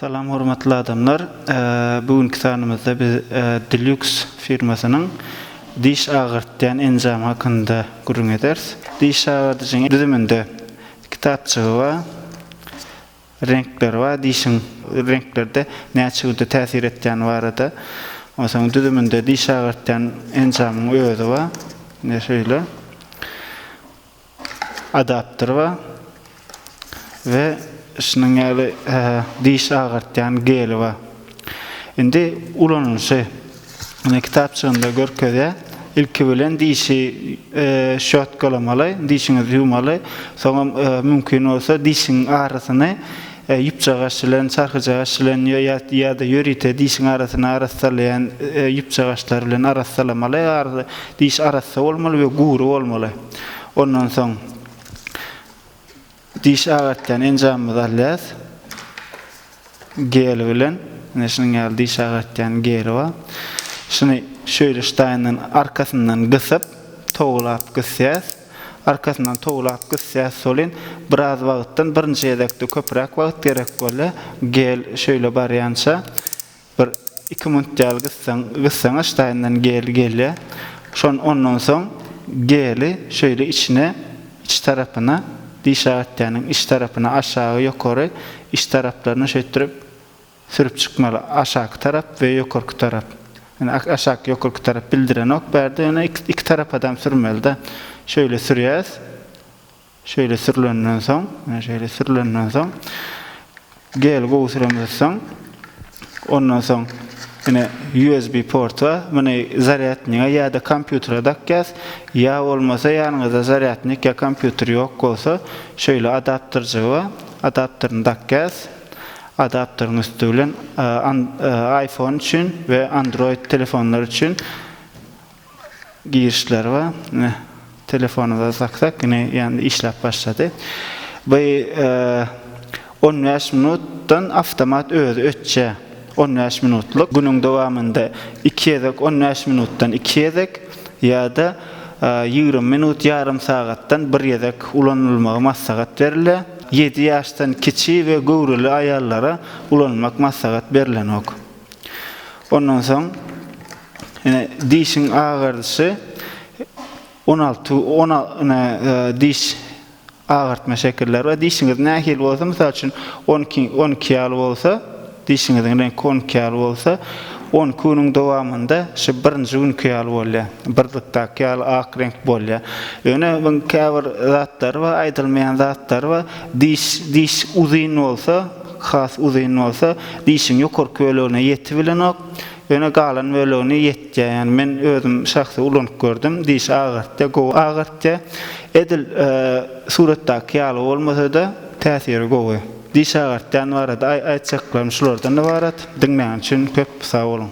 Salam hormatly adamlar. Bu günki sanymyzda biz Dilux firmasynyň diş agyrtýan enjamy hakynda gürrüň ederis. Diş agyryjyň düzüminde kitapjygy bar. reňkleri bar dişiň reňklerde näçe güýçli täsir etýäni barada onsoň düzüminde diş agyrtýan enjamyň özi bar ine şeýle adapter bar we şunuň ýaly diş agyrtýan geli bar. Indi ulanylyşy ine kitapçygynda görkezýär. Ilki bilen dişi şotkalamaly, dişiňizi ýuwmaly. Soňam mümkin bolsa dişiň arasyny ýüpjagaş bilen, çarhyjagaş bilen ýa-da ýörite dişiň arasyny arassalaýan ýüpjagaşlar bilen arassalamaly. Diş arassa bolmaly we gury bolmaly. Ondan soň. Diş agartýan enjamymyzy alýas. Gel bilen. Ine şunuň ýaly diş agartýan geli bar. Şuny şöýle ştaýyndan arkasyndan gysyp, towlap gysýas. Arkasyndan towlap gysýas solin. Biraz wagtdan birinji gezekde köpräk wagt gerek bolýar. Gel şöýle barýança. Bir iki munt däl gyssaň gyssaň aşdaýyndan geli gelýä şon ondan soň geli şöýle içine iç tarapyna diş agatýanyň iç tarapyna aşagy ýokary iç taraplaryna şeýtdirip sürüp çykmaly aşaky tarap we ýokarky tarap ýöne aşaky ýokarky tarap bildirenok bärde ýöne iki tarapadam sürmelida şöýle sürýäs Şeýle sürlenden soň, men şeýle sürlenden soň, gel gowy süremizsoň, ondan soň ine USB port bar, muny zarýadniga ýa-da kompýutere dakýas, ýa bolmasa ýanyňyzda zarýadnik ýa kompýuter ýok bolsa, şeýle adapterjigi bar, adapterini dakýas, adapteriň üsti bilen iPhone üçin we Android telefonlar üçin, Girişler bar. Ine, telefonymyza saksak, ine, ýandy, işläp başlady. Bu on bäş minutdan awtomat özi öçýär. On bäş minutlyk. Günüň dowamynda iki gezek on bäş minutdan iki gezek ýa-da ýigrimi minut, ýarym sagatdan bir gezek ulanylmagy maslahat berilýär. Ýedi ýaşdan kiçi we göwreli aýallara ulanmak maslahat berlenok. Ondan soň. Ine, dişiň agardyşy on alty, on al, ine, e, diş agartma şekilleri bar. Dişiňiz nähili bolsa, mysal üçin, on iki, on iki ýaly bolsa, dişiňiziň reňki on iki ýaly bolsa, on iki günüň dowamynda şu birinji günki ýaly bolýar. Birlikdäki ýaly ak reňk bolýar. Ýöne muň käbir zatlary bar, aýdylmaýan zatlary bar. Diş, diş uzyn bolsa, has uzyn bolsa, dişiň ýokarky bölegine ýetibilenok. Ýöne galan bölegini ýetýä ýani men özüm şahsy ulanyp gördüm dişi agartýa gowy agartýa edil suratdaky ýaly bolmasada täsiri gowy diş agartýan barada aýtjaklarym şulardan ybarat diňlän üçin köp sag boluň.